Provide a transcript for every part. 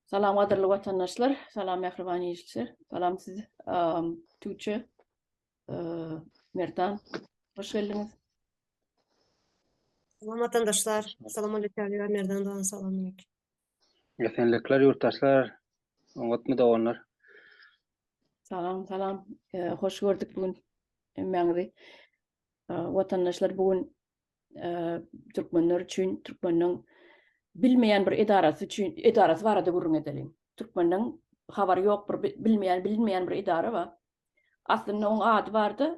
Salam gadyrly watandaşlar, salam mähriban işçiler, salam siz Tuce, Merdan, hoş geldiňiz. Salam watandaşlar, salam aleyküm, Merdan dogan, salam aleyküm. Esenlikler yurttaşlar, oňat mı doganlar? Salam, salam, hoş gördük bugün emmäňizi. Watandaşlar bugün türkmenler üçin türkmeniň bilmeýän bir edarasy üçin edarasy barada gürrüň edeliň. Türkmeniň habary ýok bir bilmeýän bilinmeýän bir edara bar. Aslynda oň ady bardy.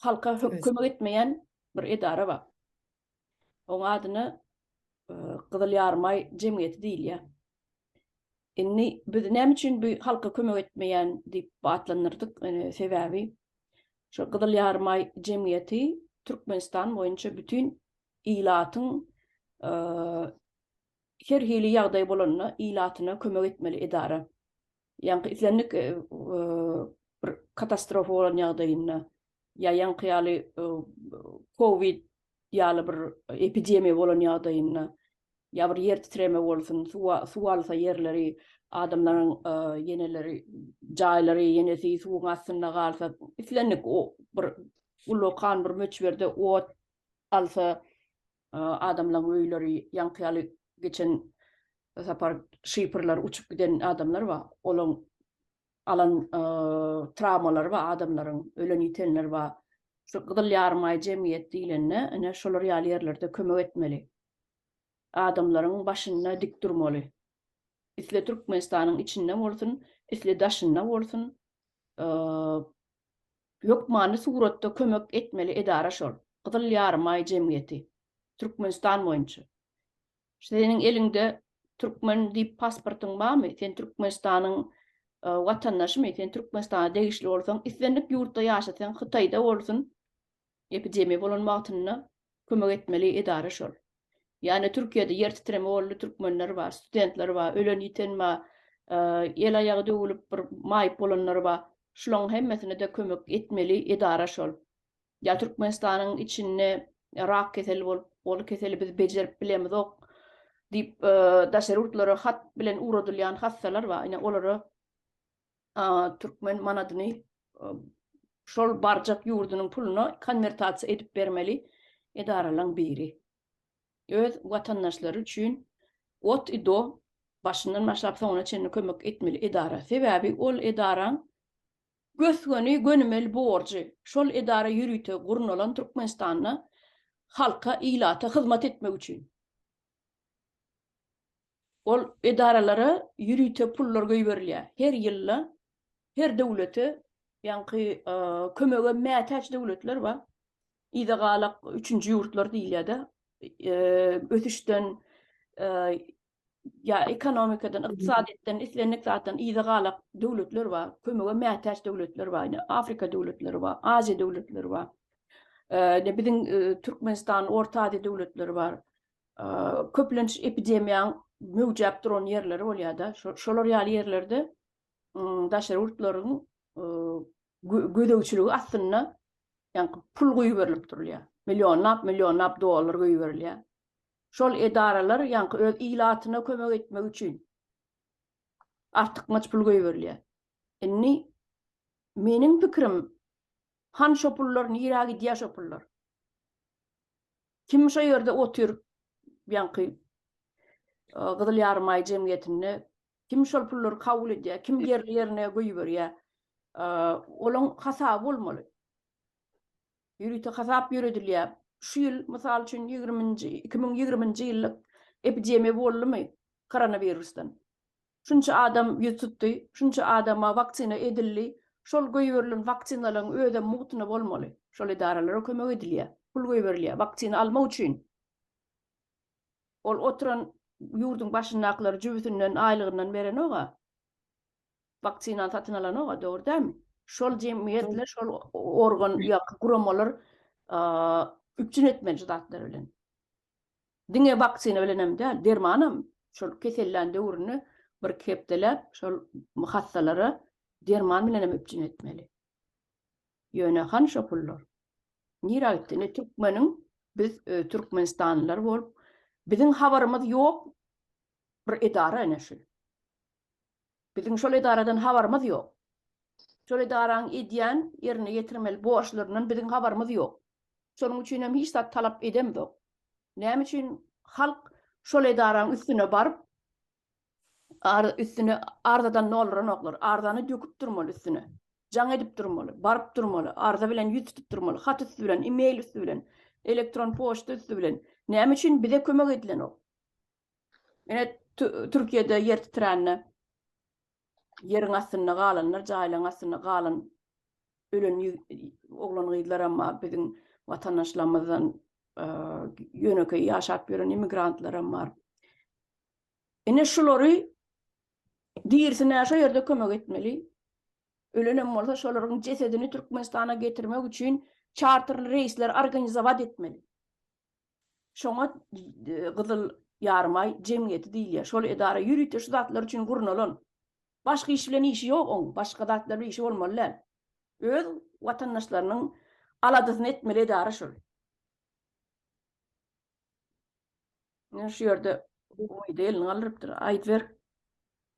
Halka kömek etmeýän bir edara bar. Oň adyny Gyzyl Ýarmaý jemgyýeti diýilýär. Indi biz näme üçin bu halka kömek etmeýän diýip atlandyrdyk. Sebäbi şu Gyzyl Ýarymaý jemgyýeti Türkmenistan boýunça bütin ilatyň her hili ýagdaý bolanda ilatyna kömek etmeli edara. Ýaňky islendik bir katastrofa bolan ýagdaýynda ýa ýaňky ýaly kowid ýaly bir epidemiýa bolan ýagdaýynda ýa bir ýer titreme bolsun, suw alsa ýerleri, adamlaryň ýeneleri, jaýlary, ýenesi suwuň astynda galsa, islendik bir ullakan bir möçberde ot alsa, adamlaryň öýleri ýaňky ýaly geçen sapar şypyrlar uçup giden adamlar bar, olaryň alan trawmalary bar adamlaryň, ölen-ýitenler bar. Şu Gyzyl Ýarymaý jemgyýet diýlende, ine, şolar ýaly ýerlerde kömek etmeli. Adamlaryň başynda dik durmaly. Isle Türkmenistanyň içinde bolsun, isle daşynda bolsun, hökmany suratda kömek etmeli edara şol, Gyzyl Ýarymaý jemgyýeti, Türkmenistan boýunça. Seniň eliňde türkmen diýip pasportyň barmy? Sen Türkmenistanyň watandaşymy? Sen Türkmenistana degişli bolsaň, islendik ýurtda ýaşa, sen Hytaýda bolsun, epidemiýa bolan wagtynda kömek etmeli edara şol. Ýa-da Türkiýede ýer titreme boldy, türkmenler bar, studentler bar, ölen-ýiten bar, el-aýagy döwülip bir maýyp bolanlar bar. Şularyň hemmesine-de kömek etmeli edara şol. Ýa Türkmenistanyň içinde rak keseli bolup, ol keseli biz bejerip bilemizok diýip, daşary ýurtlara hat bilen ugradylýan hassalar bar. Ine, olara türkmen manadyny şol barjak ýurdunyň puluna konwertasiýa edip bermeli edaralaň biri. Öz watandaşlary üçin ot i do başyndan başlap soňuna çenli kömek etmeli edara. Sebäbi ol edaraň Gös-göni gönümel borjy şol edara ýörite gurnalan Türkmenistanda halka, ilata hyzmat etmek üçin. Ol edaralara ýörite pullar göýberilýär. Her ýylda her döwlete ýaňky kömege mätäç döwletler bar. Yzagalak üçünji ýurtlar diýilýär-de. Ösüşden ýa ekonomikadan, ykdysadyýetden, islendik zatdan yza galak döwletler bar, kömege mätäç döwletler bar, ine, Afrika döwletleri bar, Aziýa döwletleri bar. Ine, biziň Türkmenistan, Orta Aziýa döwletleri bar. Köplenç epidemiýaň möwjäp duran ýerleri bolýar-da, şolar ýaly ýerlerde daşary ýurtlaryň gözegçiligi astynda ýaňky pul guýuberilip durulýar. Millionlap, millionlap dollar guýuberilýär. şol edaralar ýaňky öz ilatyna kömek etmek üçin artykmaç pul goýberilýär. Indi meniň pikirim han şo pullar nirä gidýär şo pullar? Kim şo ýerde otyr ýaňky Gyzyl Ýarymaý jemgyýetinde kim şol pullary kabul edýär, kim ýerli ýerine goýberýär? Olaň hasaby bolmaly. Ýörite hasap ýöredilýär. Şu ýyl, mysal üçin, ýigriminji, iki müň ýigriminji ýyllyk epidemiýa boldumy koronawirusdan? Şunça adam ýüz tutdy, şunça adama waksina edildi, şol goýberilen waksinalaryň özem mugtyna bolmaly. Şol edaralara kömek edilýär, pul goýberilýär waksina almak üçin. Ol oturan ýurduň başyndakylary jübüsinden, aýlygyndan berenog-a. Waksina satyn alanok-a, dogry dälmi? Şol jemgyýetler, şol organ ýa-da guramalar üpjün etmeli şu zatlary bilen. Diňe waksina bilen hem däl, dermanam şol keselläň döwründe bir-iki hepdeläp şol hassalara derman bilen hem üpjün etmeli. Ýöne hany şo pullar? Nirä gitdi? Indi türkmeniň biz türkmenistanlylar bolup, biziň habarymyz ýok bir edara ene şu. Biziň şol edaradan habarymyz ýok. Şol edaraň edýän, ýerine ýetirmeli borçlaryndan biziň habarymyz ýok. Şonuň üçin hem hiç zat talap edemzok. Näme üçin halk şol edaraň üstüne baryp, üstüne arzadan dolduranoklar? Arzany döküp durmaly üstüne. Jaň edip durmaly, baryp durmaly, arza bilen ýüz tutup durmaly, hat üsti bilen, e-mail üsti bilen, elektron poçta üsti bilen. Näme üçin bize kömek edilenok? Ine, Türkiýede ýer titrände ýeriň astynda galanlar, jaýlaryň astynda galan ölen oglan-gyzlaram bar, biziň watandaşlarymyzdan ýönekeý ýaşap ýören immigrantlaram bar. Ine, şulary dirsine şo ýerde kömek etmeli. Ölenem bolsa, şolaryň jesedini Türkmenistana getirmek üçin çarterli reýsler organizować etmeli. Şoňa Gyzyl Ýarymaý jemgyýeti diýilýär. Şol edara ýörite şu zatlar üçin gurnalan. Başga iş bilen işi ýok oň, başga zatlar bilen işi bolmaly däl. Öz watandaşlarynyň aladasyny etmeli edara şol. Şu ýerde elini galdyrypdyr. Aýdyber.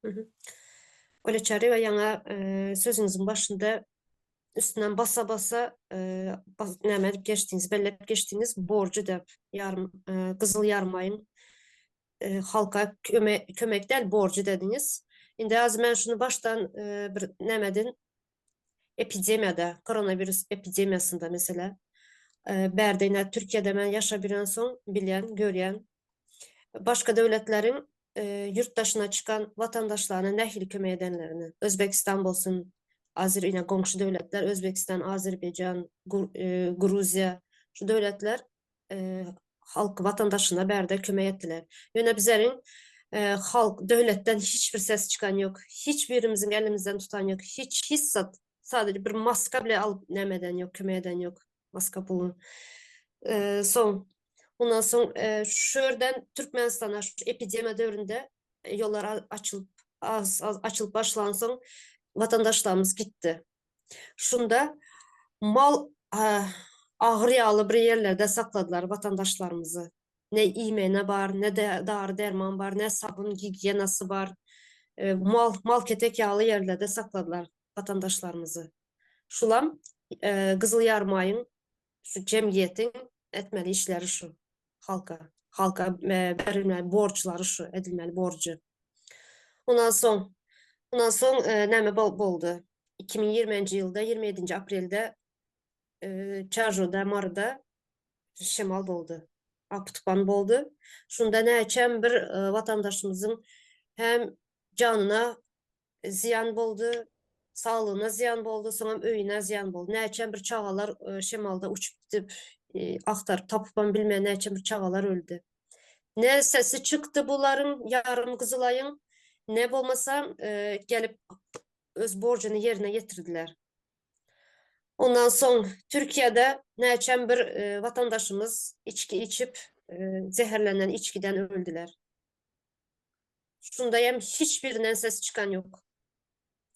Güne Çaryýewa ýaňy sözüňiziň başynda üstünden basa-basa näme edip geçdiňiz, belläp geçdiňiz, borjy däl, ýarym, Gyzyl Ýarmaýyň halka kömek däl, borjy dediňiz. Indi azy men şuny başdan bir nämeden epidemiýada, koronawirus epidemiýasynda meselä, bärde ine Türkiýede men ýaşap ýörensoň bilýän, görýän. Başga döwletleriň ýurt daşyna çykan watandaşlaryna nähili kömek edenlerini, Özbegistan bolsun, Azer ine goňşy döwletler Özbegistan, Azerbaýjan, Gruziýa şu döwletler halk watandaşyna bärde kömek etdiler. Ýöne bizleriň halk döwletden hiç bir ses çykan ýok. Hiç birimiziň elimizden tutan ýok. Hiç hiç zat. Sadece bir maska bile alyp näme eden ýok, kömek eden ýok. Maska pulun. Soň ondan soň şu ýerden Türkmenistana şu epidemiýa döwründe ýollar açylyp açylyp başlansoň watandaşlarymyz gitdi. Şunda mal agyr ýaly bir ýerlerde sakladylar watandaşlarymyzy. Ne iýmene bar, ne de dary-derman bar, ne sabun gigiýenasy bar. E, mal mal ketek ýaly ýerlerde sakladylar watandaşlarymyzy. Şulam e, Gyzyl Ýarmaýyň Şu jemgyýetiň etmeli işleri şu halka. Halka berilmeli borçlary şu, edilmeli borcu. Ondan soň, ondan soň e, näme boldy? 2020-nji ýylda 27-nji aprelde e, Çarjoda, Maryda şemal boldy. Apytupan boldy. Şunda näçem bir e, watandaşymyzyň hem janyna zyýan boldy, saglygyna zyýan boldy, soňam öýüne zyýan boldy. Näçem bir çagalar şemalda uçup gidip, agtaryp tapypam bilmän näçem bir çagalar öldi. Ne sesi çykdy bularyň, ýarym gyzylaýyň, ne bolmasa gelip öz borjuny ýerine ýetirdiler. Ondan soň Türkiýede näçem bir watandaşymyz içki içip, zeherlenen içgiden öldüler. Şunda hem hiç birinden ses çykan yok.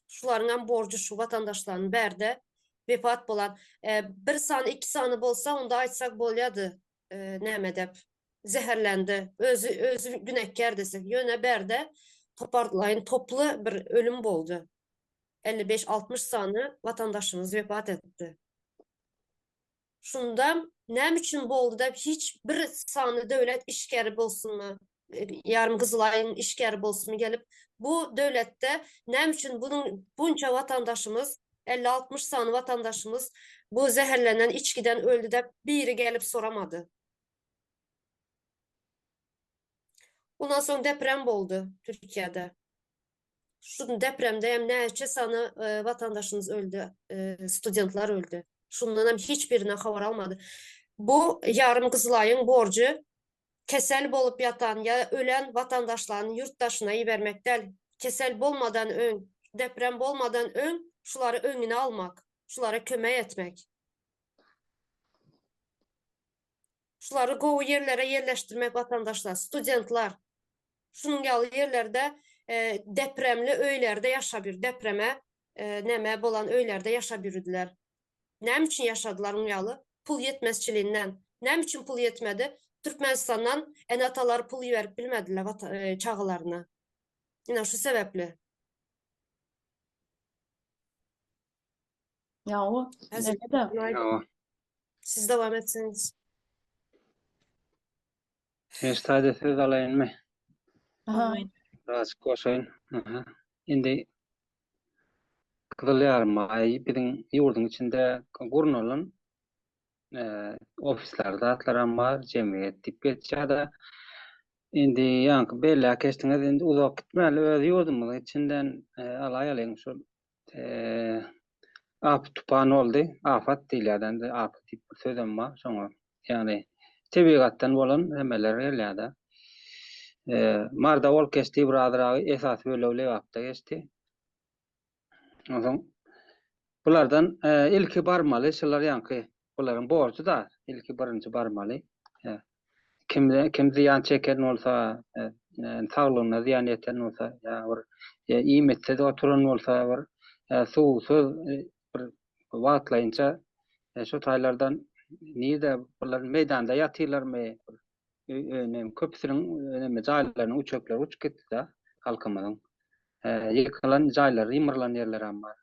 Şularyň hem borjy şu watandaşlaryň bärde wepat bolan e, bir sany iki sany bolsa onda aýtsak bolýardy e, näme dep zäherlendi özi özi günäkär desek ýöne bärde toparlaýyn toply bir ölüm boldy 55-60 sany watandaşymyz wepat etdi Şunda näme üçin boldy-da hiç bir sanly döwlet işgäri bolsunmy, ýarym gyzylaýyň işgäri bolsunmy gelip, bu döwletde näme üçin bunuň bunça watandaşymyz, elli-altmyş sany watandaşymyz bu zäherlenen içgiden öldi dep biri gelip soramady? Ondan soň deprem boldy Türkiýede. Şu gün depremde hem näçe sany watandaşymyz öldi, studentler öldi. Şundan hem hiç birine habar almadı. Bu yarım Kızılay'ın borcu kesel bolup yatan ya ölen vatandaşlarını yurt daşına ibermek del. Kesel bolmadan ön, deprem bolmadan ön şuları önüne almak, şulara köme etmek. Şulary gowy ýerlere ýerleşdirmek watandaşlar, studentler şunuň ýaly ýerlerde depremli öýlerde ýaşap ýür, depreme näme bolan öýlerde ýaşap ýüridiler. Näme üçin ýaşadylar muň ýaly? Pul ýetmezçiliginden. Näme üçin pul ýetmedi? Türkmenistandan ene-atalar pul iberip bilmediler çagalaryna. Ine şu sebäpli. Ýawa. Häzir Näme de? Günaýdyň. Ýawa. Siz dowam etseňiz. Enştaýda söz alaýynmy? Aha. Birazjyk goşaýyn. Aha. Indi Gyzyl Ýarymay biziň ýurduň içinde gurnalan eee, ofisler, zatlaram bar, jemgyýet diýip geçýär-de. Indi ýaňky belläp geçdiňiz, indi uzak gitmäli, öz ýurdumyzyň içinden eee, alaýalyň şu Afet tupan boldy. Afat diýilýär-de indi. Afet diýip bir sözem bar. Şoňa, ýagny tebigatdan bolan nämeler gelýär-de. Marda ol geçdi, bir azyragy esasy bölegi Lebapda geçdi. Onsoň bulardan ilki barmaly şular ýaňky Bularyň borjy-da ilki birinji barmaly. Kim kim zyýan çeken bolsa, saglygyna zyýan ýeten bolsa, ýa bir iýmitsiz oturan bolsa, bir suwsuz bir wagtlaýynça şu taýlardan nirde bular meýdanda ýatyrlarmy? Öýüne köpüsiniň näme jaýlarynyň üçekleri uçup gitdi-de halkymyzyň. Ýykylan jaýlary ýymyrylan ýerlerem bar.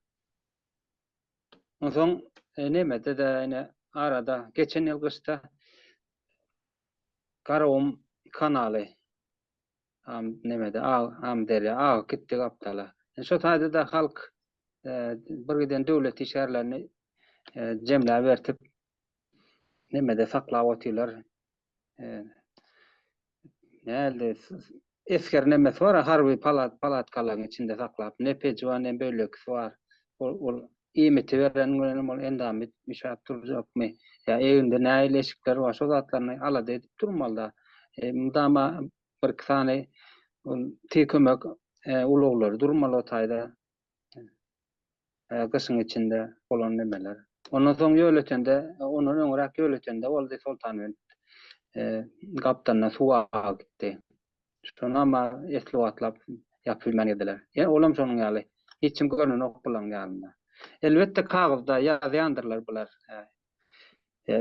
Onsoň Nemede-de ine arada geçen ýyl gyşda Garagum kanaly Nemede Amyderýa agyp gitdi gapdala. Ine şo taýda-da halk bir giden döwlet işgärlerini jemläbertip Nemede saklap otyrlar. Nähili esger nemesi bar, harby palat palatkalaryň içinde saklap, ne pejiwa, ne bölekisi bar. Ol ol iýmiti beren bilenem ol endamit üşäp durjakmy? Ýa egninde nähili eşikler bar, şo zatlaryny alada edip durmaly-da. Mydama birki sany ol tiz kömek ulaglary durmaly o taýda. gyşyň içinde bolan nemeler. Ondan soň ýöletende, ondan öňräk ýöletende boldy Soltanbent gapdalyndan suw agyp gitdi. Şony ama esli wagtlap ýapyp bilmän gezdiler. Ýene olam şonuň ýaly. Hiç kim görnenok bularyň ýanynda. Elbetde kagyzda ýazýandyrlar bular.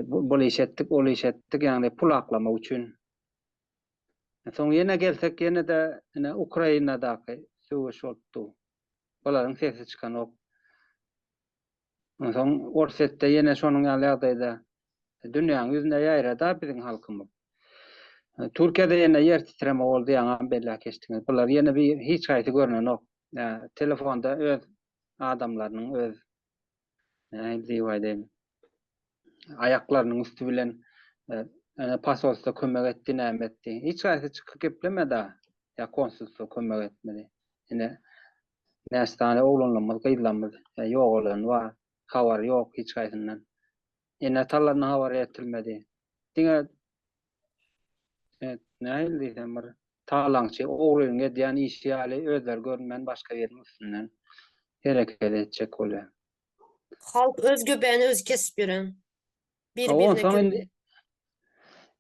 Bul iş etdik, ol iş etdik, ýagny pul aklamak üçin. Soň ýene gelsek ýene-de ine Ukrainadaky söweş bolup dur. Olaryň sesi çykanok. Onsoň Orsetde ýene şonuň ýaly ýagdaýda dünýäň ýüzüne ýaýrada biziň halkymyz. Türkiýede ýene ýer titreme boldy ýaňam belläp geçdiňiz. Bular ýene bir hiç haýsy görnenok. Telefonda öz adamlarynyň öz Nädip Aýaklarynyň üsti bilen Ene pasolstwo kömek etdi näme etdi. Hiç haýsy çykyp geplemedi-a. Ýa konsulstwo kömek etmedi. Ine näçe sany oglanlarymyz, gyzlarymyz ýogalany bar. Habary ýok hiç haýsyndan. Ene talandan habar ýetirmedi. Diňe nähili diýsem bir talaňçy, ogrynyň edýän işi ýaly özleri görünmän başga biriň üstünden hereket etjek bolýar. Halk öz göbäni özi kesip ýören. Biri birine Onsoň kömek. indi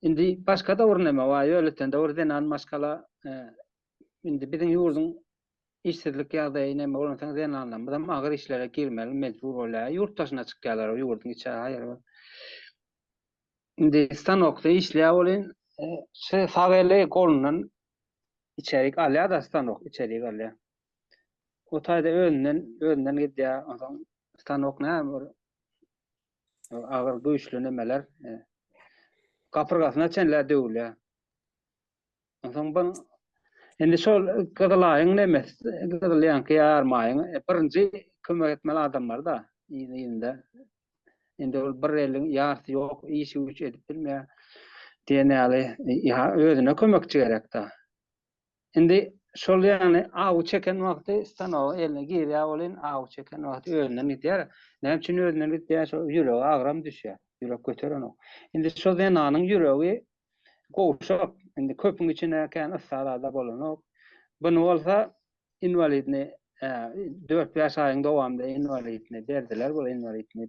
indi başga döwür näme? Waý, öýleten döwür zenan maşgala indi biziň ýurduň Işsizlik ýagdaýy näme bolansoň zenanlarymyzam agyr işlere girmeli mejbur bolýar. Ýurt daşyna çykýarlar ýurduň içi haýyr bol. Indi stanokda işleýär welin şu sag eli golundan içerik alýar-da stanok içerik alýar. O taýda özünden özünden gidýär. Onsoň stanok näme bol agyr güýçli nemeler gapyrgasyna çenlä döwülýär. Onsoň bu indi şol gyzylaýyň nemes gyzyl ýaňky ýarmaýyň e, birinji kömek etmeli adamlar-da ýyl-ýylynda. Indi ol bir eliň ýarsy ýok, işi güç edip bilmeýär diýen ýaly e, özüne kömekçi gerek-de. Indi şol ýagny aw çeken wagty stanoga eline girýär welin aw çeken wagty özünden gidýär. Näme üçin özünden gidýär? Şol ýüregi agram düşýär. Ýürek göterenok. Indi şol zenanyň ýüregi Gowşak, indi köpüň içine kän yssarada bolanok. Buny bolsa inwalidni dört-bäş aýyň dowamynda inwalidni berdiler, bu inwalidni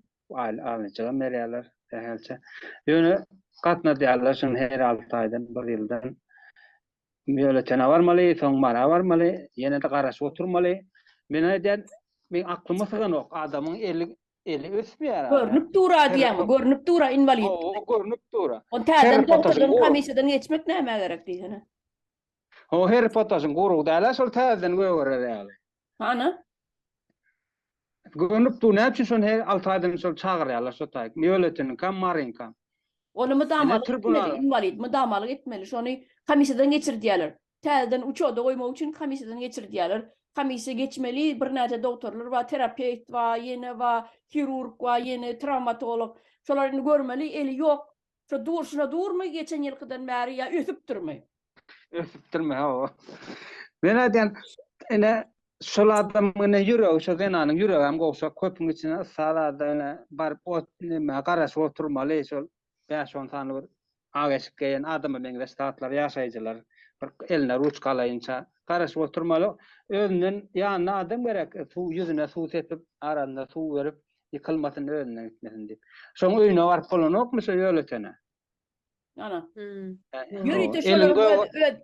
alnyjygam berýärler sähelçe. Ýöne gatnadýarlar şuny her alty aýdan, bir ýyldan. Býulletene barmaly, soň Mara barmaly, ýene-de garaşyp oturmaly. Men aýdýan, meň aklyma syganok, adamyň eli Eli ösmeýär. Görnüp dura diýýäňmi? Görnüp dura inwalid. Hawa, görnüp dura. Onda täzeden dogturdym, komissiýadan geçmek nämä gerek diýsene. Hawa, Harry Potter'yň gurugy dälä, şol täzeden gögerer ýaly. Hany? Görnüp dur, näme üçin şony her 6 aýdan şol çagyrýarlar şo taýy? Mýoletiniňkam, Maryňkam. Ony mydamalyk etmeli, inwalid mydamalyk etmeli. Şony komissiýadan geçir diýýärler. Täzeden uçoda goýmak üçin komissiýadan geçirdýärler. Komissiýa geçmeli, birnäçe dogtorlar bar, terapewt bar, ýene bar, hirurg bar, ýene trawmatolog. Şolar indi görmeli, eli ýok. Şo durşuna durmy geçen ýylkydan bäri ýa ösüpdirmi? Ösüpdirmi, hawa. Men aýdýan, ine, şol adamyň ine ýüregi, şo zenanyň ýüregem gowşak, köpüň içine yssa alada ine baryp ot näme garaşyp oturmaly, şol bäş-on sany bir ak eşik geýen adama meňzeş zatlar, ýaşaýjylar bir eline ruçka alaýynça garaşyp oturmaly. Özünden ýanyna adam gerek, suw ýüzüne suw sepip, arasyna suw berip, ýykylmasyn, özünden gitmesin diýip. Şoň öýüne baryp bolanokmy şo ýöletene? Ana. Ýörite şolaryň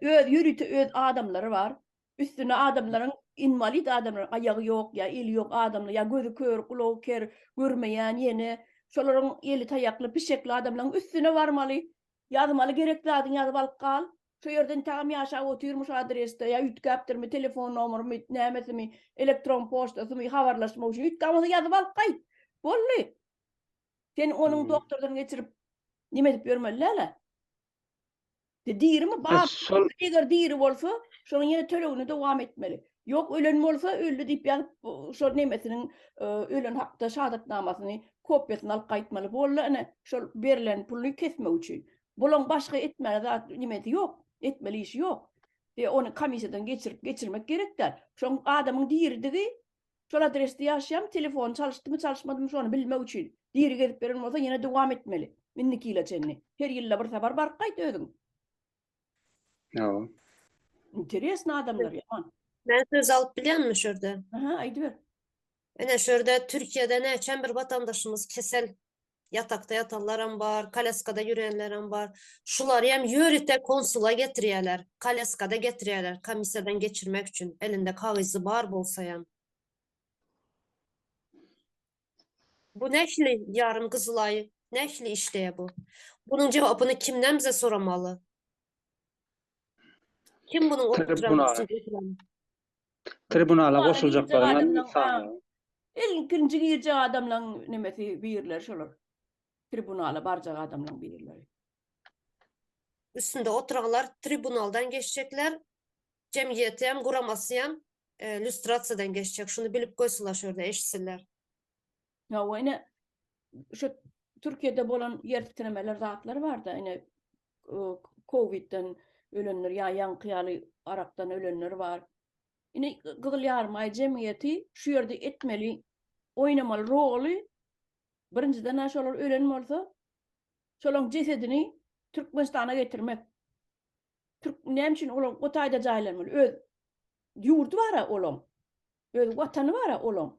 öz ýörite öz adamlary bar. Üstüne adamlaryň inwalid adamlar aýagy ýok ýa eli ýok adamlar ýa gözi kör gulagy ker görmeýän ýene şolaryň eli taýakly pişekli adamlaryň üstüne barmaly ýazmaly gerek zadyňy ýazyp alyp gal şo ýerde intägem ýaşap otyrmy şo adresde ýa üýtgäpdirmi telefon nomerymy nämesimi elektron poçtasymy habarlaşmak üçin üýtgamasa ýazyp alyp gaýt boldy sen onuň doktordan geçirip nime edip ýörmeli dälä. De dirimi bar. Şol eger diri bolsa, şonuň ýene tölegini dowam etmeli. Ýok, ölen bolsa öldi diýip ýazyp, şol nemesiniň ölen hakda şahadatnamasyny, kopiýasyny alyp gaýtmaly. Boldy ine, şol berlen puluny kesmek üçin. Bulaň başga etmäne zat nimesi ýok, etmeli işi ýok. De ony komissiýadan geçirip geçirmek gerek däl. Şoň adamyň diridigi Şol adresde ýaşaýan telefony çalyşdymy çalyşmadymy şony bilmek üçin diri gezip beren bolsa ýene dowam etmeli indiki ýyla çenli her ýylda bir sapar baryp gaýt özüň. Hawa. Interesno adamlar ýaman. Men söz alyp bilýänmi şurda? Aha aýdyber. Ine şurda Türkiýede näçem bir watandaşymyz kesel Ýatakda ýatanlaram bar, kolýaskada ýörenlerem bar. Şulary hem ýörite konsula getirýärler, kolýaskada getirýärler, komissiýadan geçirmek üçin, elinde kagyzy bar bolsa hem. Bu nähili ýarym gyzylaý, nähili işleýär bu? Bunuň jogabyny kimden bize soramaly? Kim bunuň Tribunala goşuljaklaryň sany. Ilkinji girjek adamlaň nemesi birleri şolar. Tribunala barjak adamlaň birleri. Üstünde oturanlar tribunaldan geçjekler. Jemgyýetem, guramasyam lýustrasiýadan geçjek. Şuny bilip goýsunlar şo ýerde eşitsinler. Hawa ine şu Türkiýede bolan ýer titremeler zatlar barda ine kowidden ölenler ýa ýaňky ýaly arakdan ölenler bar. Ine Gyzyl Ýarymaý jemgyýeti şu ýerde etmeli oýnamaly roly birinjiden aş olar ölen bolsa şolaň jesedini Türkmenistana getirmek. Türk näme üçin olar o taýda jaýlanmaly? Öz ýurdy bara olaň. Öz watany bara olaň.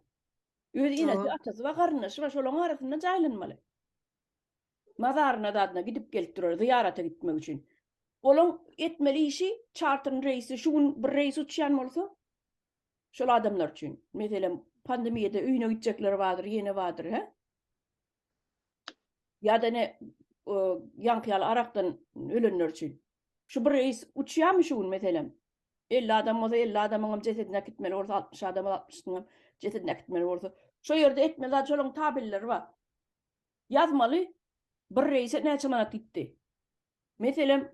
Öz enesi, atasy bar, garyndaşy bar, şolaň arasynda jaýlanmaly. Mazaryna zadyna gidip gelip durar, zyýarata gitmek üçin. Olaň etmeli işi çartern reýsi, şu gün bir reýs uçýan bolsa, şol adamlar üçin, meselem, pandemiýada öýüne gitjekler bardyr, ýene bardyr, hä? Ýa-da ine, ýaňky ýaly arakdan ölenler üçin. Şu bir reýs uçýarmy şu gün meselem? Elli adam bolsa, elli adamyňam jesedini äkitmeli bolsa, altmyş adamyň, altmyşyňam jesedini äkitmeli bolsa. Şo ýerde etmeli zat, şolaryň tabelleri bar. Ýazmaly, bir reýse näçe manat gitdi. Meselem,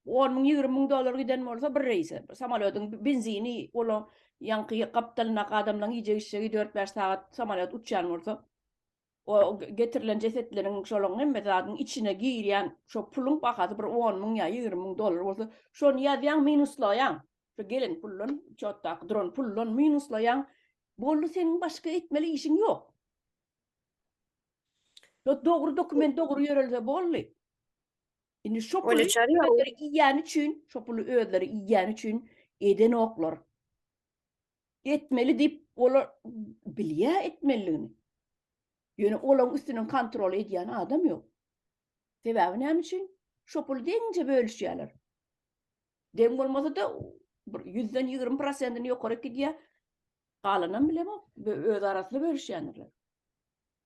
on müň, ýigrimi müň dollar giden bolsa bir reýse, samolýodyň benzini, olaň ýaňky gapdalyndaky adamlaryň iýjek-içjegi, dört-bäş sagat samolýot uçýan bolsa, O getirilen jesetleriň şolaryň hemme zadyň içine girýän şo puluň bahasy bir on müň ýa ýigrimi müň dollar bolsa, şony ýazýaň, minuslaýaň. Şo gelen puldan, çotdaky duran puldan minuslaýaň. Boldy, seniň başga etmeli işiň ýok. Şo dogry dokument dogry ýörelse boldy. Indi şo puly özleri iýýäni üçin, şo puly özleri iýýäni üçin edenoklar. etmeli diýip olar bilýär etmeliligini. Ýöne olaryň üstünden kontrol edýän adam ýok. Sebäbi näme üçin? Şo puly deňje bölüşýärler. Deň bolmasa-da bir 100-den 20 prosentini ýokaryk gidýär. Galanam bilemok, öz arasynda bölüşýändirler.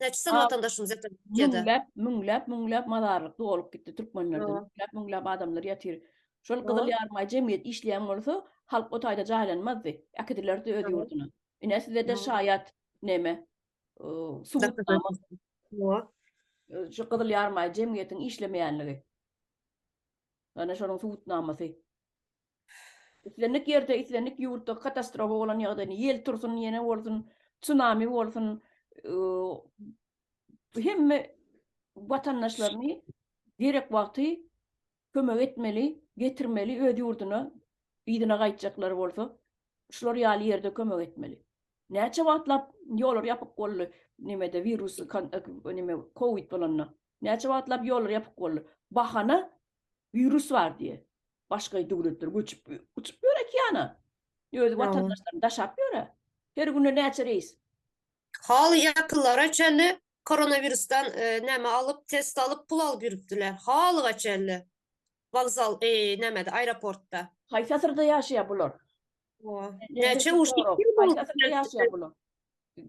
Näçe sany Aa, watandaşymyz ýatyr Türkiýede? Müňläp, müňläp, müňläp mazarlyk dolup gitdi türkmenlerde. Ýok. Müňläp, müňläp adamlar ýatyr. Şol Gyzyl Ýok. Ýarymaý jemgyýet işleýän bolsa, halk o taýda jaýlanmazdy. Äkidilerdi öz Ýok. ýurduna. Ine size-de Ýok. şaýat neme, o, subutnama. Ýok. Ö, şu Gyzyl Ýarymaý jemgyýetiň işlemeýänligi. Ana şonuň subutnamasy. Islendik ýerde, islendik ýurtda katastrofa bolan ýagdaýynda, ýel tursun, ýene bolsun, tsunami bolsun, hemme watandaşlaryny gerek wagty kömek etmeli, getirmeli öz ýurduna, yzyna gaýtjaklar bolsa, şular ýaly ýerde kömek etmeli. Näçe wagtlap ýollar ýapyk boldy nimede wirusy nime kowid bolanda. Näçe wagtlap ýollar ýapyk boldy. Bahana Wirus bar diýe. Başga döwletler göçüp uçup ýör okeana. Öz watandaşlaryny daşap ýöre. Her günde näçe reýs. Hal ýakynlara çenli koronawirusdan näme alyp test alyp pul alyp ýürüpdiler. Halyga çenli. Wokzal eý nämede aýroportda. Haýsy asyrda ýaşaýar bular. Näçe uç ýyl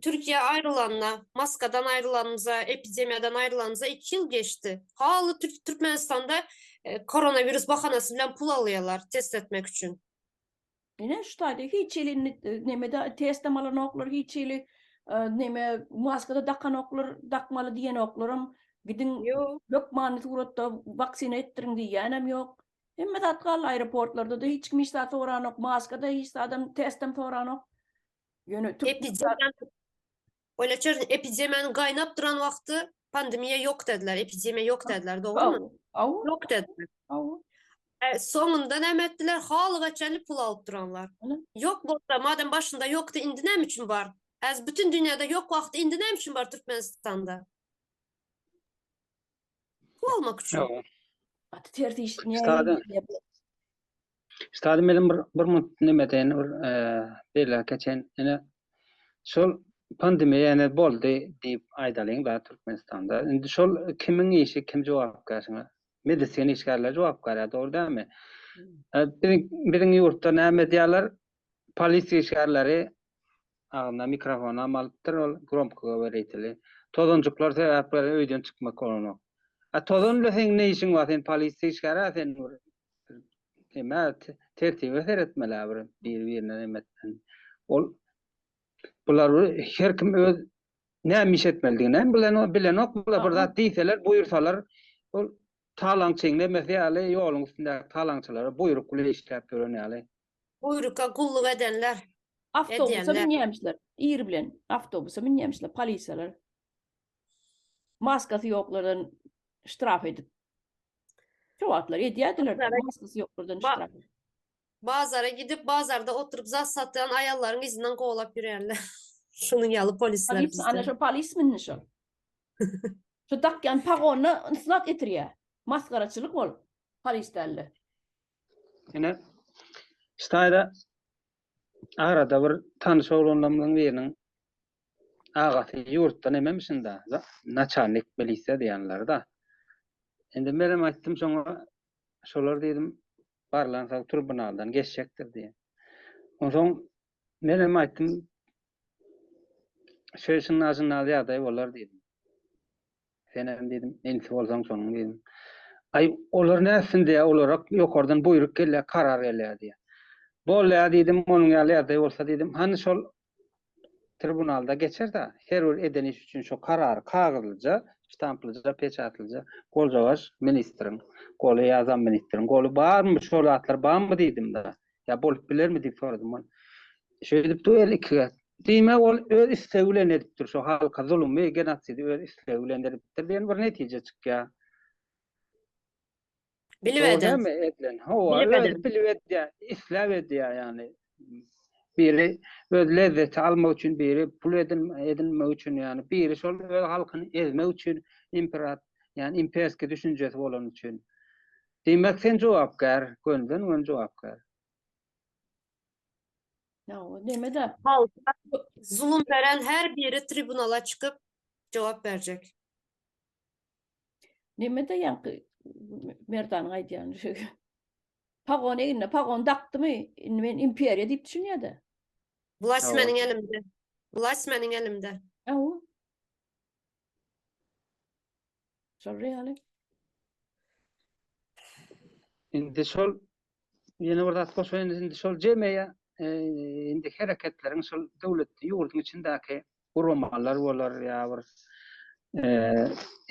Türkiýe aýrylanda, maskadan aýrylanymyza, epidemiýadan aýrylanymyza iki ýyl geçdi. Haly Türkmenistanda koronawirus bahanasy bilen pul alýarlar test etmek üçin. Ine şu taýda hiç hili nemede testem alanoklar, hiç hili neme maskada dakanoklar, dakmaly diýenoklarym, gidiň hökmany suratda waksina etdiriň diýýänem ýok. Hemme zat galdy aeroportlarda-da hiç kim hiç zat soranok, maska-da hiç zadam, testem soranok. Ýöne türk Epidemiýa- Öyle çör epidemiýanyň gaýnap duran wagty pandemiýa ýok dediler, epidemiýa ýok dediler, dogrumy? Aw, aw, Ýok dediler. aw. E, soňunda näme etdiler? Halyga çenli pul alyp duranlar. Ana. Ýok bolsa, madem başynda ýokdy, indi näme üçin bar? Häzir bütün dünýäde ýok wagty indi näme üçin bar Türkmenistanda? Pul almak üçin. Ýa, Gaty ters iş. Ne Sada. Stady meniň bir bir munt neme deýin bir beýle geçen ine şol pandemiýa ýene boldy diýip aýdalyň da Türkmenistanda. Indi şol kimiň işi kim jogapkär şuňa? Medisina işgärleri jogapkär ýa dogry dälmi? Biziň biziň ýurtda näme edýärler? Polisiýa işgärleri agzyna mikrofon am alypdyr, ol gromko goworiteli. Tozanjyklar sebäpli öýden çykmak bolanok. A tozan bilen seň ne işiň bar, sen polisiýa işgäri-ä sen bir eme tertibe seretmeli-ä bir biri-birine neme etmeli. Ol bular bir her kim öz näme iş etmelidiginem bilenok, bilenok bular bir zat diýseler, buýursalar ol talaňçyň nemesi ýaly ýoluň üstündäki talaňçylara buýruk bilen işläp ýören ýaly. Buýruka gulluk edenler. Awtobusa münýämişler. Ir bilen awtobusa münýämişler polisiýalar. Maskasy ýoklardan ştraf edip. Şo wagtlar edýärdiler. Maskasy ýoklardan ştraf. Bazara gidip, bazarda oturyp zat satýan aýallaryň yzyndan kowlap ýörýärler. Şunuň ýaly polisler bizde. Ana şo polismindi şo. Şo dakýan pagonyna ysnat getirýär. Masgaraçylyk ol polis dälde. Ine, şu taýda arada bir tanyş oglanlarymyzyň biriniň agasy ýurtda nememişin-da, naçalnik milisiýa diýenleri-da. Indi menem aýtdym şoňa, şolar diýdim, barlan sag tribunaldan geçjekdir diýen. Onsoň menem aýtdym, şeýle şynna-şynna ýagdaý bolar diýdim. Senem diýdim, Ensi bolsaň şonuň diýdim. Aý, olar nätsin diýýä, olara ýokardan buýruk gelýä, karar gelýä diýýä. Bol-ä diýdim, onuň ýaly ýagdaý bolsa diýdim, hany şol tribunalda geçer-dä, her bir eden iş üçin şo karary kagyzlyja, ştamplyja, peçatlyja goljawaş ministriň goly ýa zamministriň goly barmy, şo zatlar barmy diýdim-de. ýa bolup bilermi diýip soradym ol. Şeýdip duel iki gezek. Diýmek ol öz istegi bilen edipdir şu halka zulumy, genosidi öz istegi bilen edipdir diýen bir netije çykýar. Bilip edýän. Hawa, özi bilip edýär, isläp edýär ýagny. Biri öz lezzeti almak üçin, biri pul edinmek üçin ýagny, biri şol öz halkyny ezmek üçin, imperat, ýagny imperski düşünjesi bolany üçin. Diýmek sen jogapkär, gönden gön jogapkär. Ýa-o nemedä? Halka zulum beren her biri tribunala çykyp jogap berjek. Nemedä ýaňky Merdanyň aýdýany şu. Pagon egnine pagon dakdymy, indi men imperiýa diýip düşünýädä. Wlast Hawa. meniň elimde. Wlast meniň elimde. Ýa-o. Şol ýaly. Indi şol ýene bir zat goşaýyn, indi şol jemeýe e, indi hereketleriň şol döwlet ýurduň içindäki guramalar bolar ýa bir e,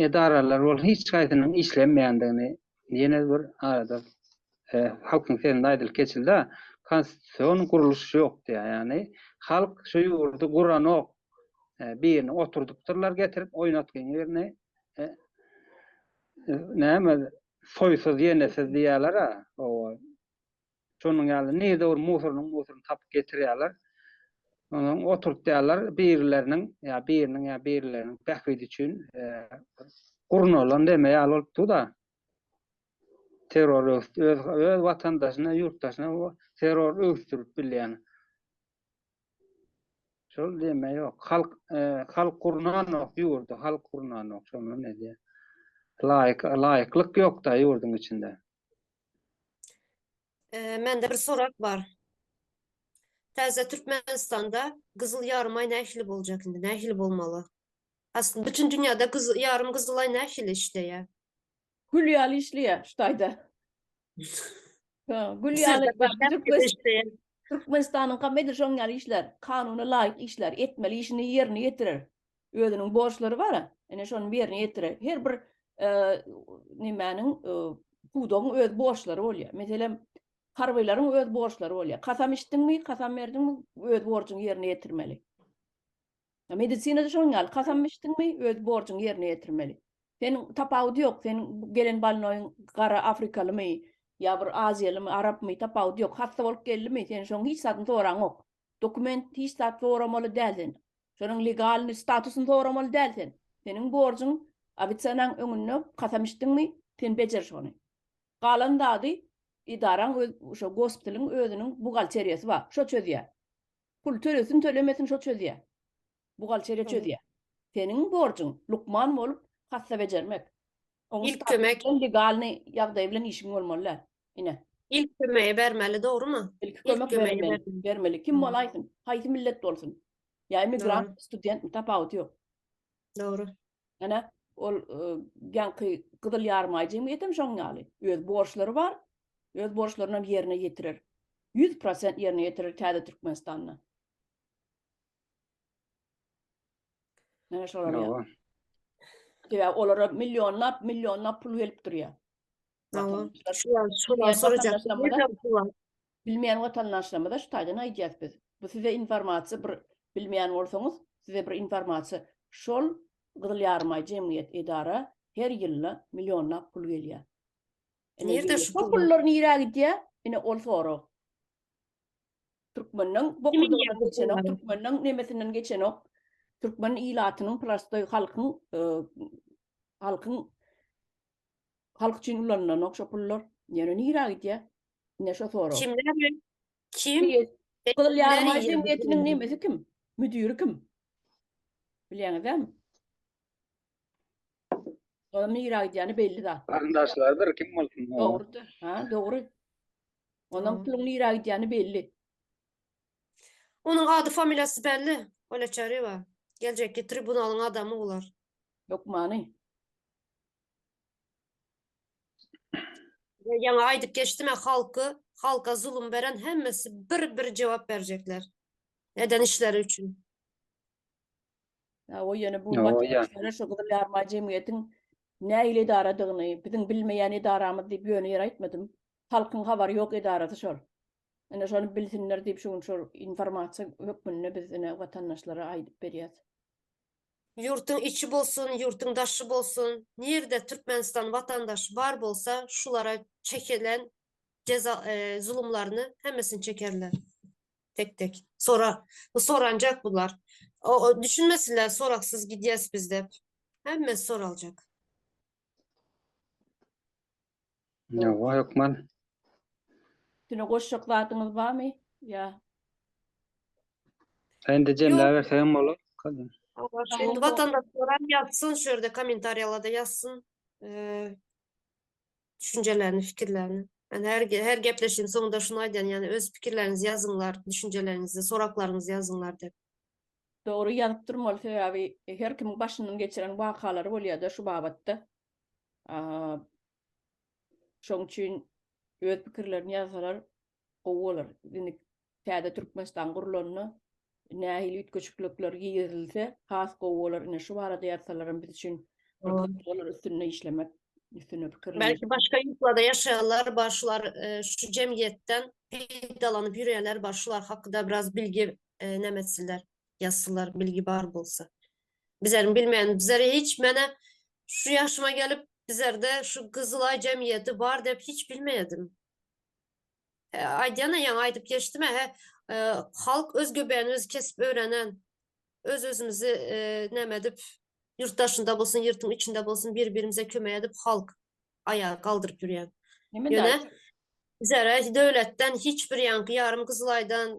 edaralar bol hiç haýsynyň işlemeýändigini ýene bir arada e, halkyň sesinde aýdylyp geçildi konstitusion gurluş ýok diýýär ýagny halk şu ýurdy guranok e, birini oturdypdyrlar getirip oýnatgyň birini e, e, näme soýsuz ýenesiz diýýärler ha owa Şonuň ýaly, nirede bir musorynyň musoryny tapyp getirýärler. Onsoň oturtýarlar, birileriniň ýa biriniň ýa birileriniň bähbidi üçin gurnalan deme ýaly bolup dur-da. Terror öwüt, öz öz watandaşyna, ýurtdaşyna terror öwüsdirip bilýän. Şol deme ýok. Halk, halk gurnanok ýurdy, halk gurnanok. Şondan edýär. Laýyk, laýyklyk ýok-da ýurduň içinde. Ee, mende bir sorak bar. Täze Türkmenistanda Gyzyl Ýarym aý nähili boljak indi? Nähili bolmaly? Aslında bütün dünyada kız, yarım Kızılay ne hil işte ya. Gül yalı işliyor şu tayda. Ha, Gül yalı bak, Türkmen- işte ya. Türkmenistan'ın kamedir şoň yalı işler. Kanuna layık işler. Etmeli işini yerine yetirir. Özüniň borçlary bar, ine şony ýerine ýetirer. Her bir nimäniň pudagyň öz borçlary bolýar. Meselem, harbylaryň öz borçlary bolýar. Kasam içdiňmi, kasam berdiňmi, öz borjuňy ýerine ýetirmeli. Medisinada şonuň ýaly, kasam içdiňmi, öz borjuňy ýerine ýetirmeli. Sen tapawudy ýok, sen gelen balnoýuň gara afrikalymy, ýa bir aziýalymy, arapmy, tapawudy ýok. Hassa bolup geldimi, sen şoň hiç zadyny soraňok. dokument hiç zat soramaly däl sen. Şonuň legalny statusyny soramaly däl sen. Seniň borjuň ofitsiýanyň öňünde kasam içdiňmi, sen bejer şony. Galan zady edaraň öz şo gospitaliň özüniň buhgalteriýasy bar, şo çözýär. Pul tölesin tölemesin şo çözýär. Buhgalteriýa çözýär. Seniň borjuň lukman bolup kassa bejermek. Onuň Ilk kömek. statusy bilen legalnyý ýagdaýy bilen işiň bolmaly däl. Ine. Ilk kömegi bermeli dogrymy? Ilki Ilk kömek kömegi berilmeli. bermeli. Bermeli. Kim Dogry. bolaýsyn, haýsy millet bolsun. Ýa emigrant, Dogry. studentmi tapawuty ýok. Dogry. Ine, ol y, ýaňky gyzyl ýarymaý jemgyýetem şoň ýaly. Öz borçlary bar. Öz borçlarynam ýerine ýetirer. Ýüz prosent ýerine ýetirer täze Türkmenistanda. Näme şolar ýa? Ýa. Sebäbi olara millionlap, millionlap pul gelip durýar. Ýa. Watandaşlar, Şu ýa- şu ýa- sorajak. Watandaşlarymyza- Nereden pul al- bilmeýän watandaşlarymyza şu taýdan aýdýas biz. Bu size informasiýa bir bilmeýän bolsaňyz, size bir informasiýa. Şol Gyzyl Ýarymaý jemgyýet, edara her ýylda millionlap pul gelýär. Ine, Nirde şu şo pul? pullar nirä gidýär? Ine, ol sorag. Türkmeniň bokurdagyna geçenok, türkmeniň nemesinden geçenok. Türkmen ilatynyň prostoý halkyň halkyň halk üçin ulanlanok şo pullar. Ýöne nirä gidýär? Ine şo sorag. Kimler bilen? Kim? Gyzyl ýarymaý jemgyýetiniň nemesi kim? Müdiri kim? Bilýäňizmi? Ola nira gidýäni belli zat. Garyndaşlardyr kim bolsun. o. Dogrudyr. Ha, dogry. Onuň Dogry. puluň nira gidýäni belli. Onuň ady familiýasy belli. Olya Çaryýewa. Geljekki tribunalyň adamy olar. Hökmany. Ve Ýaňa aýdyp geçdim ya halky, halka zulum beren hemmesi bir bir jogap berjekler. Eden işleri üçin. Hawa, ýöne bu materiallar şu Gyzyl Ýaryma jemgyýetiň nähili edaradygyny, biziň bilmeýän edaramyz diýip ýöne ýere aýtmadym. Halkyň habary ýok edarasy şol. Ine şony bilsinler diýip şu gün şol informasiýa hökmünde biz ine watandaşlara aýdyp berýäs. Ýurtyň içi bolsun, ýurtyň daşy bolsun, nirde Türkmenistan watandaşy bar bolsa şulara çekilen jeza zulumlaryny hemmesini çekerler. Tek tek. Sora. Bu soranjak bular. O, o düşünmesinler soraksız gidýäs biz dep. Hemmesi soraljak. Ýowa hökman. Üstüne goşjak zadyňyz barmy? Ýa. Indi jemläbersek hem bolar. Kadam. Awar. Indi watandaşlar hem ýazsyn şu ýerde kommentariýalarda ýazsyn. Eee, düşünjelerini, fikirlerini. Yani her, her gepleşiğin sonunda şunu aydan yani öz fikirlerinizi yazınlar, düşüncelerinizi, soraklarınızı yazınlar dep. Dogry ýazyp durmaly sebäbi e, her kimiň başyndan geçiren wakalary bolýar-da şu babatda. Şoň üçin öz pikirlerini ýazsalar gowy bolar. Indi täze Türkmenistan gurlanda nähili üýtgeşiklikler girizilse has gowy bolar. Ine şu barada ýazsalaram biz üçin olar üstünde işlemek üstünde pikirlenmek. Belki başga ýurtlarda ýaşaýanlar bar şular şu jemgyýetden peýdalanyp ýörýänler bar şular hakda biraz bilgi näme etsinler ýazsynlar bilgi bar bolsa. Bizleriň bilmeýänimiz bizler hiç menä şu ýaşyma gelip bizlerde şu Gyzylaý jemgyýeti bar dep hiç bilmeýärdim. Aýdýana ýaňy aýdyp geçdim-ä, he, halk öz göbäni özi kesip öwrenen, öz-özümizi näme edip, ýurt daşynda bolsun, ýurtuň içinde bolsun bir-birimize kömek edip halk aýaga galdyryp ýörýän. Ýöne bizara döwletden hiç bir ýaňky ýarym Gyzylaýdan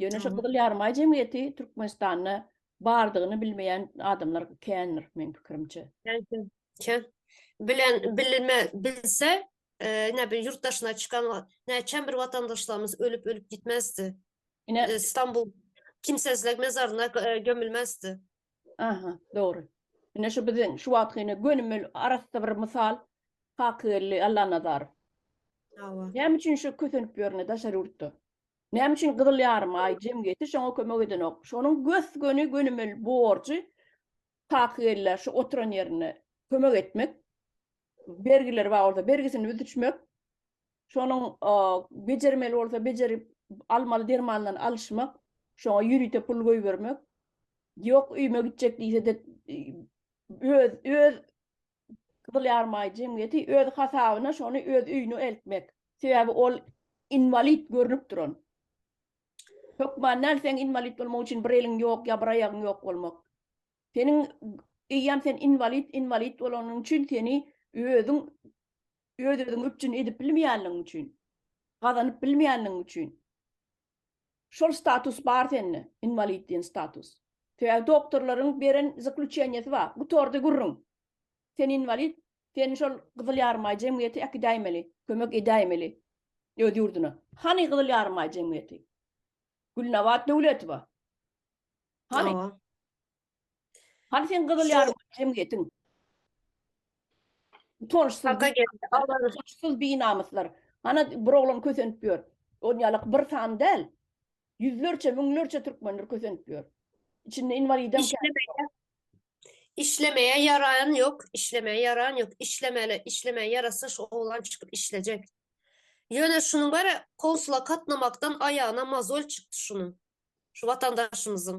Ýöne şu Gyzyl Ýarymaý jemgyýeti Türkmenistanda bardygyny bilmeýän adamlar kändir meň pikirimçe. Kän. Bilen bilme bilse, ine bir ýurt daşyna çykan näçem bir watandaşlarymyz ölüp ölüp gitmezdi. Ine Stambul kimsesizlik mezaryna gömülmezdi. Aha, dogry. Ine şu biziň şu wagtky ine gönümel arassa bir mysal Kakygeldi Allanazarow. Hawa. Näme üçin şu kösenip ýörne daşary ýurtda? Näme üçin Gyzyl Ýarym Aý jemgyýeti şoňa kömek edenok? Şonuň gös-göni gönümel borjy takyk ellä şu oturan ýerinde kömek etmek, bergileri bar bolsa bergisini büzüşmek, şonuň bejermeli bolsa bejerip almaly dermanlaryny alyşmak, şoňa ýörite pul goýbermek, ýok öýüme gitjek diýse-de öz öz Gyzylarmay jemgyýeti öz hasabyna şony öz öýüne eltmek. Sebäbi ol inwalid görnüp duran. Hökman näl seň inwalid bolmak üçin bir eliň ýok ýa bir aýagyň ýok bolmak. Seniň eýýäm sen inwalid inwalid bolanyň üçin seni özüň öz özüňi üpjün edip bilmeýänligiň üçin, gazanyp bilmeýänligiň üçin. Şol status bar sende, inwalid diýen status. Sebäbi doktorlaryň beren zakluçeniýesi bar, gutardy gürrüň. Sen inwalid, seni şol Gyzyl Ýarymaý jemgyýeti äkidäýmeli, kömek edäýmeli öz ýurduna. Hany Gyzyl Ýarymaý jemgyýeti? Gülnabat Döwletowa. Hany? Hany sen gyzyl ýarym jemgyýetiň? Utançsyz. Haka geldi. Utançsyz binamyslar. Hana bir oglan kösenip ýör. Ol ýalak bir sany däl. Ýüzlerçe, müňlerçe türkmendir kösenip ýör. Içinde inwalidem kän. Işlemeýä ýaraýan ýok, işlemeýä ýaraýan ýok. Işlemeli, işlemäge ýarasa şu oglan çykyp işlejek. Ýöne şunuň bäri konsula gatnamakdan aýagyna mozol çykdy şunuň. Şu watandaşymyzyň.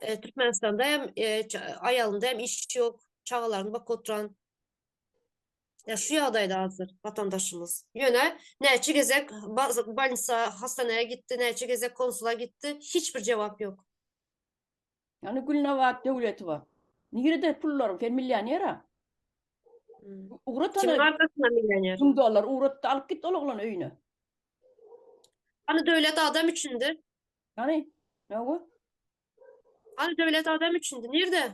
E, Türkmenistanda hem e, ça- aýalynda hem iş ýok, çagalaryny bakyp oturan. Ya şu ýagdaýda hazır watandaşymyz. Ýöne näçe gezek baz- bolnisa, hastanaya gitdi, näçe gezek konsula gitdi, hiç bir jogap ýok. Ýani Gülnabat Döwletowa. Nirede pullaryň? Sen millionera. Hmm. Ugrat Kimiň ana arkasynda millioner? 1000 dollar ugratda alyp git ol oglany öýüne. Hani döwlet adam üçindir. Hani? Ne bu? Al döwlet adam üçindi. Nirde?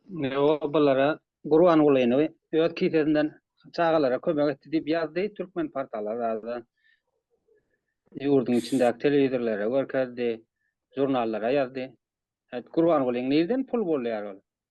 Ne o bulara Gurban Gulyny öz kisesinden çagalara kömek etdi diýip ýazdy türkmen portala razy. Ýurduň içindäki telewizorlara görkezdi, žurnallara ýazdy. Hät Gurban Gulyň nirden pul bolýar ol?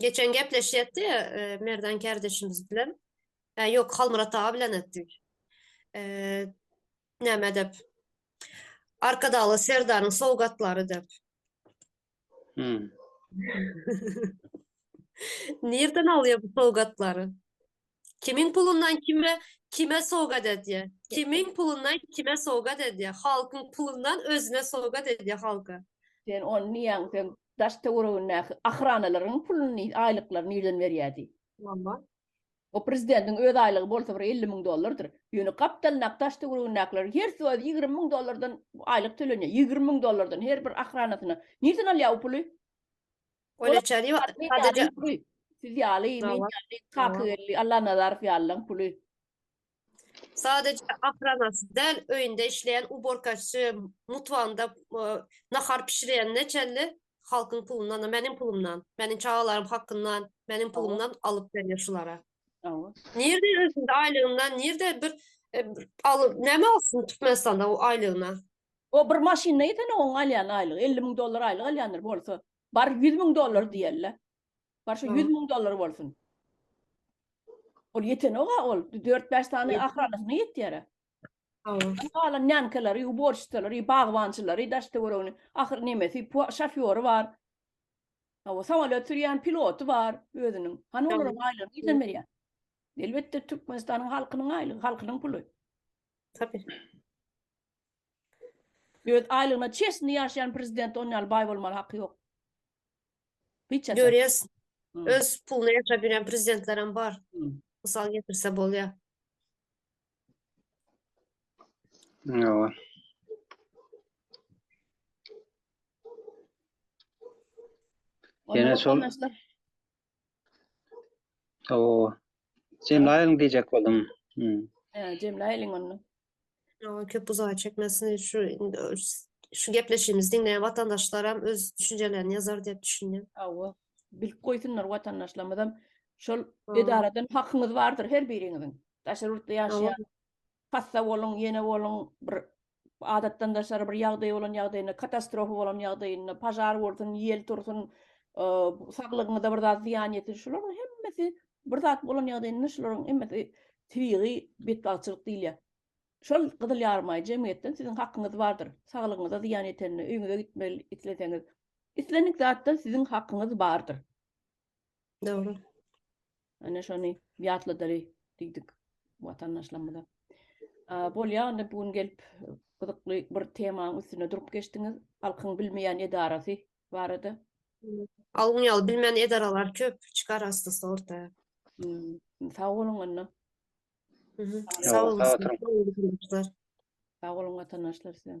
Geçen gepleşýetdi ýa Merdan kardeşimiz bilen. Ýa ýok Halmyrat aga bilen etdik. Näme dep? Arkadagly Serdaryň sowgatlary dep. Hmm. Nirden alýar bu sowgatlary? Kimiň pulundan kime kime sowgat edýär? Kimiň pulundan kime sowgat edýär? Halkyň pulundan özüne sowgat edýär halka. Sen ony niýäň sen daş töweregindäki ahranalaryň puluny, aýlyklaryny nirden berýär diý. Walla. O prezidentiň öz aýlygy bolsa bir elli müň dollardyr. Ýöne gapdalyndaky daş töweregindäkiler hersi öz ýigrimi müň dollardan aýlyk tölenýär. Ýigrimi müň dollardan her bir ahranasyna. Nirden alýar o puly? Ola çary ýok. Sadece siz ýaly, men ýaly, Kaka geldi, Allanazarow ýalylaryň puly. Sadece ahranasy däl, öýünde işleýän uborkaçy, mutfagynda nahar pişirýänine çenli halkyň pulundan, meniň pulumdan, meniň çagalaryň hakyndan, meniň pulumdan alyp berýär şulara. Nirde özünde aýlygyndan, nirde bir alyp, näme alsyn Türkmenistanda o aýlygyna? O bir maşynyna ýetene oň alýan aýlygy elli müň dollar aýlyk alýandyr bolsa bar ýüz müň dollar diýeli. Bar şu ýüz müň dollar bolsun. Ol ýetenok-a ol dört bäş sany ahranasyna ýetýär-ä. Hawa. Galan nýankalary, uborşçystalary, bagbançylary, daş töweregini ahyr nemesi şofýory bar. Hawa samolýot sürýän piloty bar özüniň. Hany olaryň aýlygyny nirden berýär? Elbetde Türkmenistanyň halkynyň aýlygy, halkynyň puly. Tabii. Öz aýlygyna çeşni ýaşaýan prezident on ýaly baý bolmaly haky ýok. Hiç ýasa. Görýäs. Öz puluna ýaşap ýören prezidentlerem bar. Mysal getirse bolýar. Ýowa. Ýene şol. Ýowa. Jemlaýyň diýjek boldum. He, jemlaýyň onda. Ýa köp uzaga çekmesin şu şu gepleşigimizi diňleýän watandaşlaram öz düşünjelerini ýazar diýip düşünýän. Hawa. Bilip goýsunlar watandaşlarymyzam şol edaradan hakyňyz bardyr her biriňiziň. Daşary ýurtda ýaşaýan hassa boluň, ýene boluň, bir adatdan daşary bir ýagdaý bolan ýagdaýynda, katastrofa bolan ýagdaýynda, pažar bolsun, ýel tursun, saglygyňyza bir zat zyýan ýetsin, şularyň hemmesi Bir zat bolan ýagdaýynda şularyň hemmesi tebigy betbagtçylyk diýilýär. Şol gyzyl ýarymaý jemgyýetden siziň hakyňyz bardyr. Saglygyňyza zyýan ýetende, öýüňize gitmeli isleseňiz, islendik zatdan siziň hakyňyz bardyr. Dogry. Ine şony ýatladaly diýdik watandaşlarymyza. Bolýa onda bu gün gelip gyzykly bir temaň üstünde durup geçdiňiz. Halkyň bilmeýän edarasy barada. Algyn ýaly bilmeýän edaralar köp çykar astysta orta. Sag boluň onda. Sag boluň. Sag boluň watandaşlar size.